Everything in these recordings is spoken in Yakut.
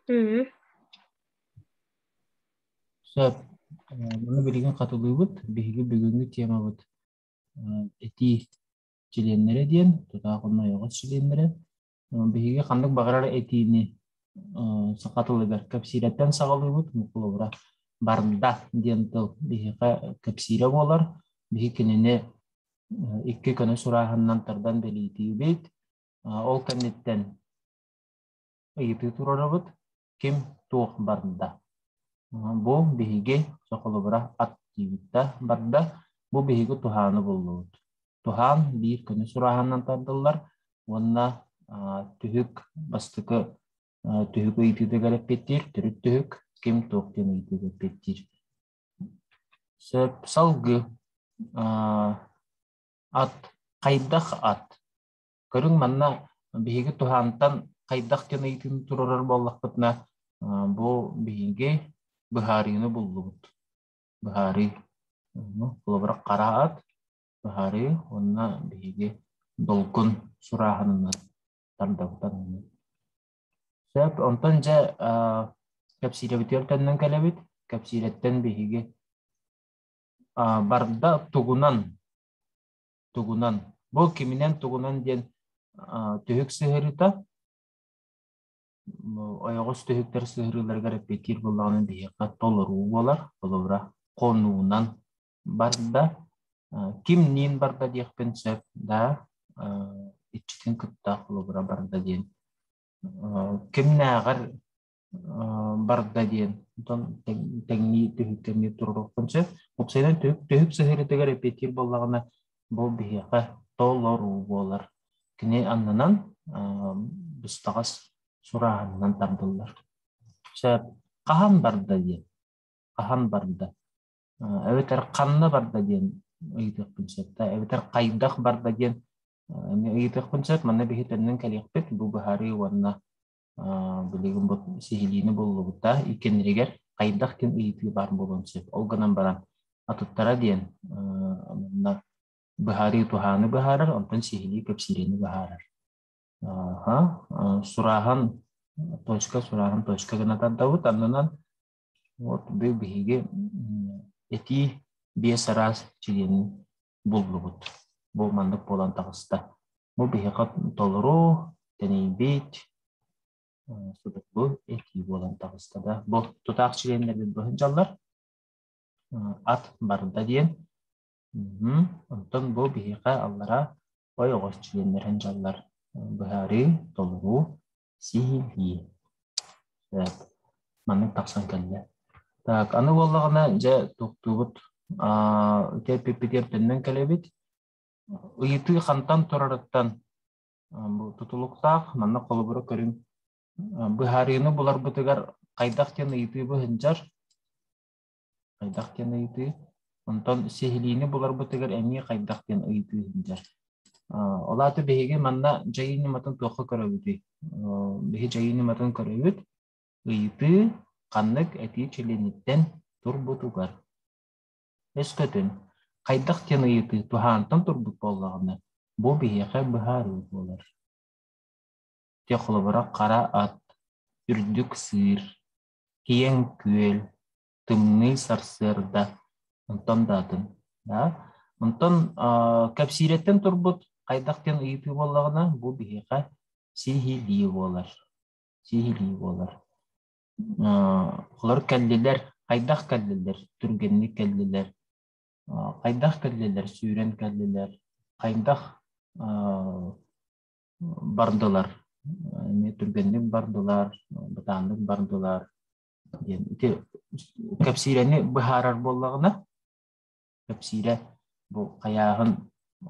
Үһү. Сөп. Э, Маны билигин хатылыыбыт. Биһиги бүгүҥҥү темабыт э, этии чилиэннэрэ диэн, тутаах онно ойоҕос чилиэннэрэ. Э, Биһиги ханнык баҕарар этиини э, саха тылыгар кэпсииртэн саҕалыыбыт. Холобура, барда диэн тыл биһиэхэ кэпсиирэ буолар. Биһиги кинини э, икки көнө сурааһынынан тардан бэлиэтиибит. Э, Ол кэнниттэн ыйытыы турарыбыт ким туох барда. Бу биһиги сохолобура ат диибит да барда. Бу биһиги туһааны буллубут. Туһаан биир күнү сурааһанынан тардыллар уонна түһүк бастакы түһүк ыйытыытыгар эппиэттиир төрүт түһүк ким туох диэн ыйытыыга эппиэттиир. Сөп салгыы ат хайдах ат Көрүҥ манна биһиги туһаантан хайдах диэн ыйытыыны туруорар буоллахпытына, бу биһиги быһаарыыны буллубут. Быһаарыы. Холобура хараат, быһаарыы уонна биһиги долгун сурааһынынан тардабытан Сөп. Онтон дьэ кэпсиирэбитигэр төннөн кэлэбит. Кэпсиирэттэн биһиги барда тугунан тугунан, бу киминэн-тугунан диэн түһүк сыһырыта, ойоҕос түһүктэр сыһырыыларыгар эппиэттиир буоллаҕына биһиэхэ толоруу буолар, холобура, хонуунан барда, ким ниин барда диэхпин сөп да, иччитин кытта холобура барда диэн кимнээҕэр барда диэн. Оттон тэҥнии түһүктэнии туруоруохтун сөп. Уопсайынан түһүк сыһыарытыгар эпиэтиир буоллаҕына, бу биһиэхэ толоруу буолар. Кини аннынан быстаҕас сурааһынынан тардыллар. Сөп. Хаһан барда диэн. Хаһан барда. Эбэтэр ханна барда диэн ыйытыахпын сөпкө. Эбэтэр хайдах барда диэн ыйытыахпын сөп. Манна биһи төннөн кэлиэхпит. Бу быһаарыы уонна Билигин бу сиһилиини буллубута. Иккэннэригэр хайдах ким ыйытыы баар буолуон сөп. Ол гынан баран атыттара диэн онно быһаарыы туһааны быһаарар, онтон сиһилии кэпсиириини быһаарар. Сурааһан точка сурааһын точка гына тардабыт аннынан вот бу биһиги этии биэс араас чилиэнин буллубут. Бу маннык буолан таҕыста. Бу биһиэхэ толору, тэнийбит, судургу этии буолан таҕыста да. Бу тутаах чилиэннэрбит бу сылдьаллар. Ат барда диэн. Онтон бу биһиэхэ аллара ой оҕос чилиэннэрин дьаллар. Быһаарыы, толоруу Сии-хи. Эт. Маннык тахсан кэллэ. Так, аны буоллаҕына, дьэ, туктуубут. Аа, ити эппиппитигэр төннөн кэлэбит. Ыйытыы хантан турарыттан бу тутулуктаах. Манна холобура көрүҥ. Быһаарыыны буларбытыгар хайдах диэн ыйытыыбы ыһынжар. хайдах диэн ыйытыы. Онтон сиһилиини буларбытыгар эмиэ хайдах диэн ыйытыы иһиллэр. Ол аата биһиги манна дьайыы ньыматын туохха көрөбүтүй? Биһи дьайыы ньыматын көрөбүт. Ыйытыы ханнык этии чилиэниттэн турбутугар. Өскөтүн хайдах диэн ыйытыы туһаантан турбут буоллаҕына, бу биһиэхэ быһаарыы буолар. Те холобура хара ат, үрдүк сыыр, киэҥ күөл, тымныы сарсыарда, онтон да атын. Да? Онтон кэпсиирэттэн турбут хайдах диэн ыйытыы буоллаҕына, бу биһиэхэ сиһилии буолар. Сиһилии буолар. Олор кэллилэр, хайдах кэллилэр, түргэнник кэллилэр, хайдах кэллилэр, сүүрэн кэллилэр, хайдах бардылар. Эмиэ түргэнник бардылар, бытааннык бардылар диэн ити кэпсиирэни быһаарар буоллаҕына, кэпсиирэ бу хайааһын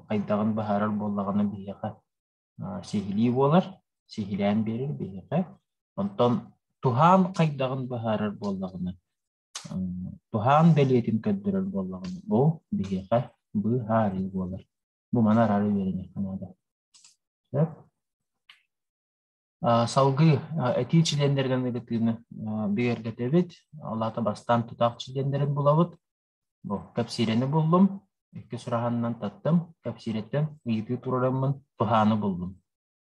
хайдаҕын быһаарар буоллаҕына биһиэхэ сиһилии буолар, сиһилээн биэрэр биһиэхэ. Онтон туһаан хайдаҕын быһаарар буоллаҕына, туһаан бэлиэтин көрдөрөр буоллаҕына, бу биһиэхэ быһаарыы буолар. Бу маны арары үөрэниэххэ наада. Сөп? Салгыы этии чилиэннэринэн ыйытыыны бигэргэтэбит. Аллаата бастаан тутаах чилиэннэрин булабыт. Бу кэпсиирэни буллум. Иккис ураһанынан таттым. Кэпсиирэттэн ыйытыы туруораммын туһааны буллум.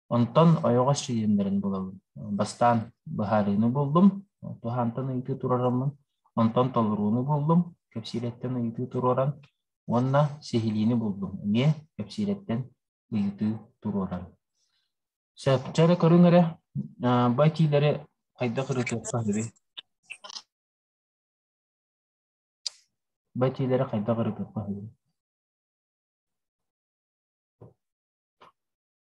Онтон ойоҕос чилиэннэрин булабын. Бастаан быһаарыыны буллум, туһаантан ыйытыы туруораммын, онтон толорууну буллум, кэпсиирэттэн ыйытыы туруоран уонна сиһилиини буллум. Эмиэ кэпсиирэттэн ыйытыы туруоран. Сөп. Дьэ эрэ көрүҥ эрэ, бу этиилэри хайдах ырытыахха сөбүй? Бу этиилэри хайдах ырытыахха сөбүй?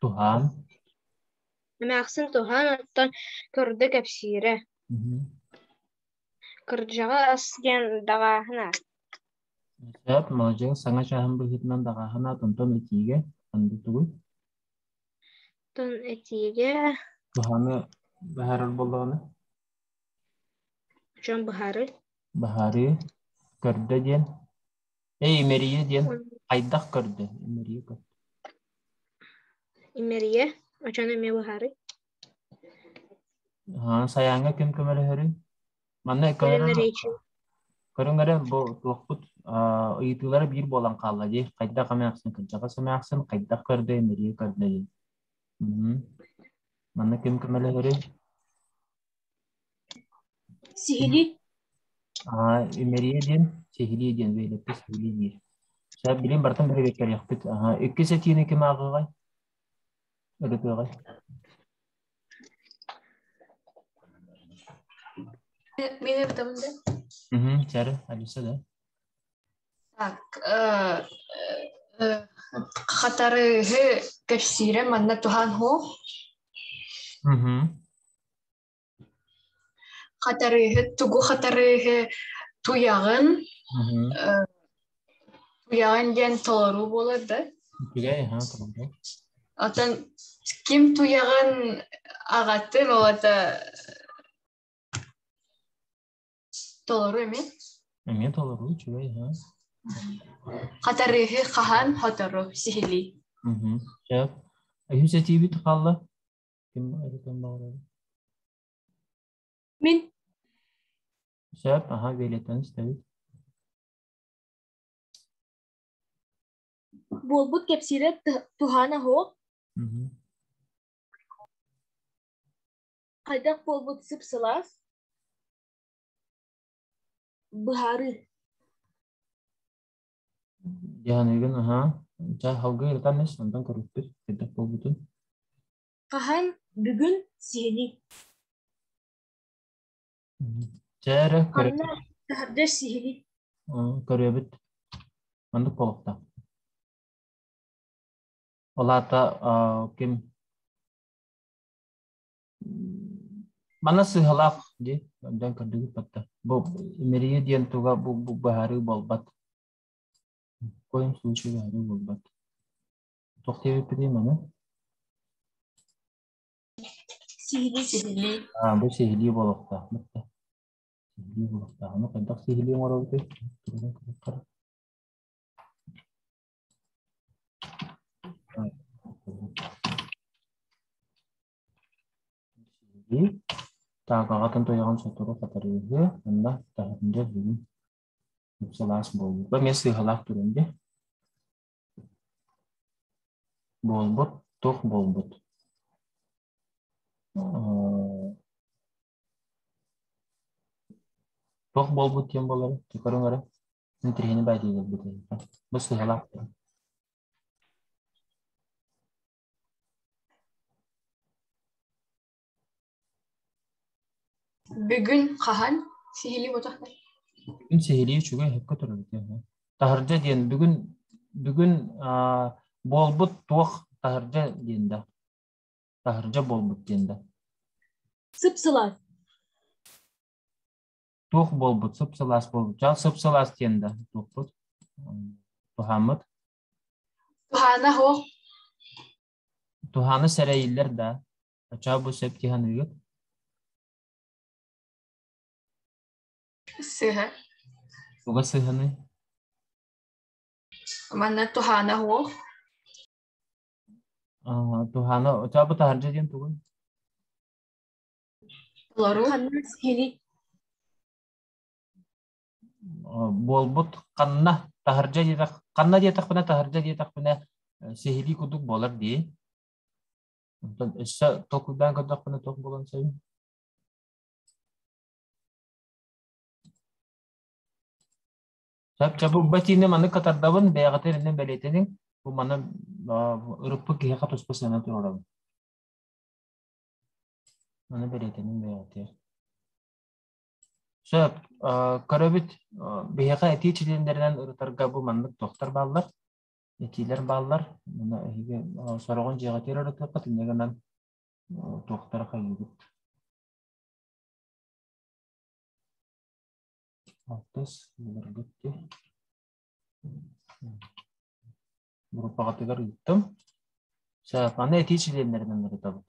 туһаан эмээхсин туһаан оттон көрдө кэпсиирэ кырдьаҕа ас диэн даҕааһына сөп маладьыас саҥа чааһын быһыытынан даҕааһын аат онтон этиигэ ханды тугуй тон этиигэ туһааны быһаарар боллоҕуна дьон быһаарыы быһаарыы көрдө диэн Эй, имэрийэ диэн хайдах көрдүн? Имэрийэ көр. Имэрийэ, очоно эмиэ быһаарый. Аа, сайааҥҥа ким көмөлөһөрүй? Манна көрөҥ, речи. көрөҥ эрэ бу туохпут а, ыйытыылара биир буолан хаалла дии. Хайдах эмээхсин, кырдьаҕас эмээхсин, хайдах көрдө, имэрийэ көрдө диэн. Манна ким көмөлөһөрүй? Сиһилии А, имэрийэ диэн сиһилии диэн бэйэлэппэ сиһилии диир. Ша билим бартан бэрэбиэккэлиэхпит. Аха, иккис этиини ким ааҕыҕай? Ырытыаҕай? Мин эбитэмин да. Уһун, Чары, Алиса да. Так, э, э, хатарыыһы кэпсиирэ манна туһаан хоо. Уһун. Хатарыыһы, тугу хатарыыһы туйаҕын, туйаҕын диэн толоруу буолар да? Үчүгэй, ха, толоруу. Оттон ким туйаҕын аҕатын олата толору эмиэ? Эмиэ толору, үчүгэй, ха. Хатарыыһы хаһан хотору сиһилии? Сөп. Үһүс этиибит хаалла. Ким өлүтэн баҕарар? Мин. Сөп, аха, биэлиттэн истэбит. Буолбут кэпсиирэ туһаана оһох. Хайдах буолбут сып-сылаас? Быһаарыы. Дьаһаныыгын аһаа. Чай салгыы ытаннас, онтон көрүппүт, хайдах буолбутун. Хаһан бүгүн сиһилий? Чэ эрэ көрө Манна таһырдьа сиһилий. М, көрүөбүт. Маннык буолуохтаах. Ол аата а, ким Мана сыһалаах дии, көрдөөн көрдүгүт батта. Бу имэрийэ диэн туга бу бу быһаарыы буолбат. В коем случае быһаарыы буолбат. Тохтиэбиппитий маны? Сиһилии сиһилии. Аа, бу сиһилии буолуохтаах. Бытта. Сиһилии буолуохтаах. Аны хайдах сиһилии оҥоробутуй? Туругун кырыккар. Так, аҕатын туйаҕын сотору хатарыыһы, онно таһырдьа бүгүн сылаас буолбут. Бу эмиэ сыыһалаах турун дии. Буолбут, туох буолбут? Туох буолбут диэн буолар, чекарыҥ эрэ. Интриһини баайдыыларбыт бу сыыһалаах турун. Бүгүн хаһан сиһилии буотахтар Бүгүн сиһилии үчүгэй эһэккэ төрөбүтэ үһү. Таһырдьа диэн бүгүн бүгүн аа, буолбут туох таһырдьа диэн да. Таһырдьа буолбут диэн да. Сып-сылаас. Туох буолбут, сып-сылаас буолбут. Дьэ, сып-сылаас диэн да туохпут? Туһааммыт. Туһаана оһох Туһаана сэрэйиллэр да, очаа бу сөп дьаһаныыгыт сыһа Уга сыһаны Манна туһаана оһох аа, Туһаана очаа бу таһырдьа диэн тугуй? толору Туһанна сиһини буолбут ханна таһырдьа диэтэх ханна диэтэхпинэ таһырдьа диэтэхпинэ сиһилии курдук буолар дии онтон өссө толкуйдаан көрдөхпүнэ туох буолан сөбүн Сөпчө бу бэтиини маннык катардабын, бэйэҕитэ эрэнэн бэлиэтэниҥ. Бу маны ырыппыт киһиэхэ туспа сыанан турарабын. Маны бэлиэтэниҥ бэйэҕитэ. Сөп. Көрөбүт биһиэхэ этии чилиэндэринэн ырытарга бу маннык туохтар бааллар, этиилэр бааллар. Мана эһиги сороҕун дьиэҕитигэр ырытыаххыт, инньэ гынан туохтара хайыыбыт. Алтыс, былыргытти. Группаҕытыгар ыыттым. Сөп, аны этии чилиэннэринэн ырытабыт.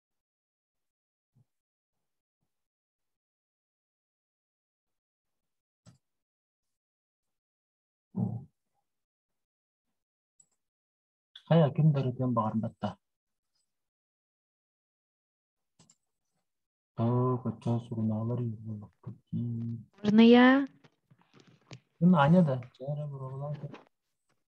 Хайа, ким да ырытыан баҕарбатта. Так, оччо сурунаалар буолбаккыт дии. Варная, Ким Аня да? Дьэ эрэ, буруолаан көр.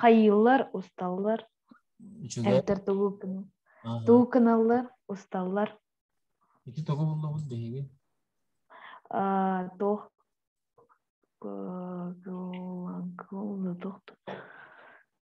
хайыыллар усталлар эмтэр туукыналлар усталлар ити тоҕо буллоҕун биһиги туох туох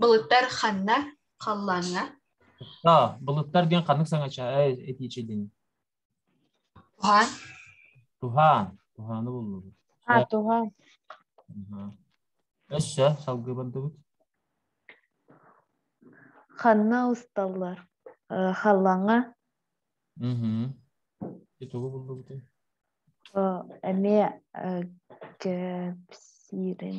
Былыттар ханна халлааҥҥа? А, былыттар диэн ханнык саҥача этиичилин? Туһаан. Туһаан. Туһааны буллубут. А, туһаан. Өссө салгыы бардыбыт. Ханна усталлар? Халлааҥҥа. Итугу буллубут. Эмиэ кэпсиирин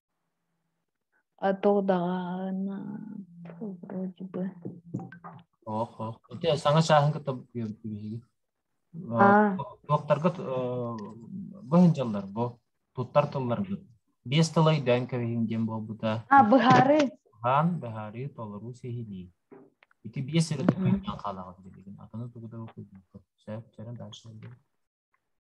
А то даҕаны вроде бы. Ох, ох. Ити саҥа чааһын кытта биһиги. Туохтарга бу дьыллар бу туттар тылларга биэс тыл өйдөөн кэбиһиҥ диэн буолбута. А быһаарыы. Хаан быһаарыы толоруу сиһилии. Ити биэс сирэ туттан хаалаҕыт билигин. Атыны тугу да сөп, дальше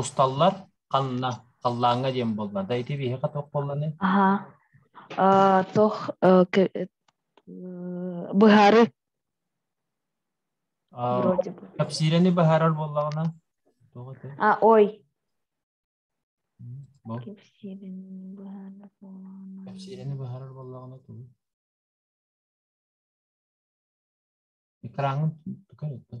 усталлар ханна халлааҥҥа диэн буоллар да ити биһиэхэ туох буолланый аһа э, туох э, быһары кэпсиирэни быһаарар буоллаҕына тоҕо ити а ой кэпсиирэни быһаарар буоллаҕына кэпсиирэни быһаарар буоллаҕына тоҕо экраҥҥын tukar ettin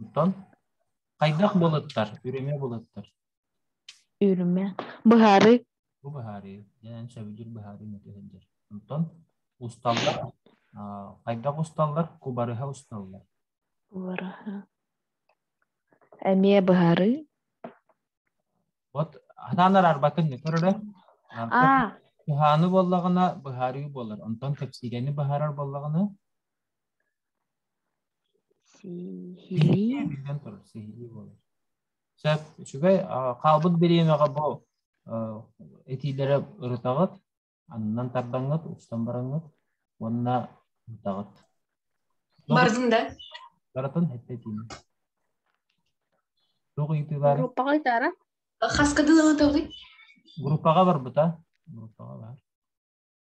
Оттон хайдах былыттар? Үрүмэ былыттар. Үрүмэ. Быһаарыы. Бу быһаарыы. Эн сөбүлүүр быһаарыы мөтөһөлдөр. Оттон усталлар хайдах усталлар? Кубарыһа усталлар. Кубарыһа. Эмиэ быһаарыы. Вот атаанар арбатын көрөлө. Туһааны буоллаҕына быһаарыы буолар. Онтон тэпсигэни быһаарар буоллаҕына Сиһилии. Биллэн турар, сиһилии буолар. Сөп, үчүгэй. Хаалбыт бириэмэҕэ бу этиилэрэ ырытаҕыт, аннан тардаҥҥыт, устан бараҥҥыт уонна ытаҕыт. Бардын да? Барытын этэ этиим. Туох ыйытыылар? Группаҕа ыйытаара? Хаска дылы ытылый? Группаҕа барбыта. Группаҕа бар.